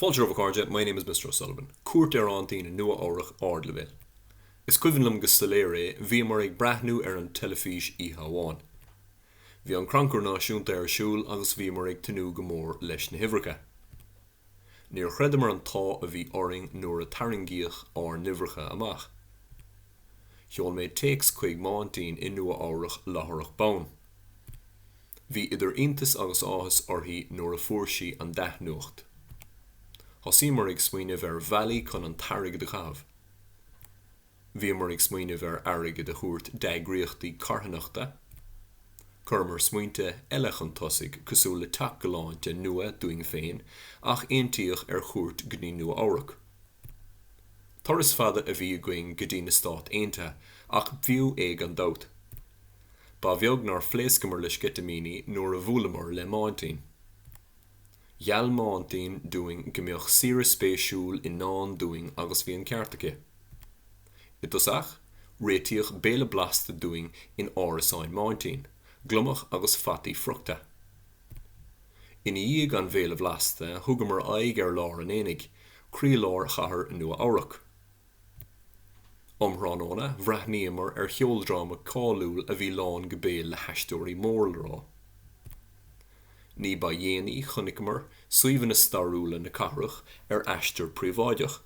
Fáilte romhaibh a chairde, my name is Mr O'Sullivan. Cuairt ar Aintín i Nua-Eabhrac ardleibhéil. Is cuimhin liom go soiléir é, bhíomar ag breathnú ar an teilifís oíche amháin. Bhí an Crannchur Náisiúnta ar siúl agus bhíomar ag tnúth go mór leis na huimhreacha. Níor chreideamar an t-ádh a bhí orainn nuair a tarraingíodh ár n-uimhreacha amach. Sheol mé téacs chuig m'aintín i Nua-Eabhrac láithreach bonn. Bhí idir iontas agus áthas uirthi nuair a fuair sí an dea-nuacht. Thosaíomar ag smaoineamh ar bhealaí chun an t-airgead a chaitheamh. Bhíomar ag smaoineamh ar airgead a thabhairt d'eagraíochtaí carthanachta. Chuireamar smaointe eile chun tosaigh, cosúil le teach galánta nua dúinn féin, ach aontaíodh ar chuairt go dtí Nua-Eabhrac. Turas fada a bhí againn go dtí na Stáit Aontaithe, ach b'fhiú é gan dabht. Ba bheag nár phléascamar le sceitimíní nuair a bhuaileamar le m'aintín. Gheall m'aintín dúinn go mbeadh saoire spéisiúil i ndán dúinn agus bhí an ceart aici. I dtosach, réitíodh béile blasta dúinn in árasán m'aintín, gliomach agus fataí friochta. I ndiaidh an bhéile bhlasta, thugamar aghaidh ar lár an aonaigh, croílár Chathair Nua-Eabhrac. Um thráthnóna, bhreathnaíomar ar cheoldráma cáiliúil a bhí lán go béal le haisteoirí mór le rá. Ní ba dhéanaí chonaiceamar suíomhanna stairiúla na cathrach ar aistear príobháideach.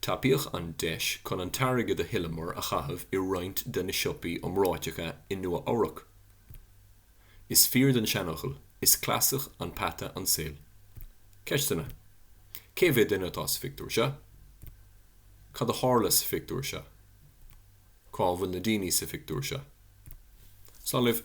Tapaíodh an deis chun an t-airgead a thuilleamar a chaitheamh i roinnt de na siopaí iomráiteacha i Nua-Eabhrac. Is fíor don seanfhocal, Is cleasach an peata an saol. Ceisteanna, Cé mhéad duine atá sa phictiúr seo? Cad a tharla sa phictiúr seo? Cá bhfuil na daoine sa phictiúr seo? Slán libh!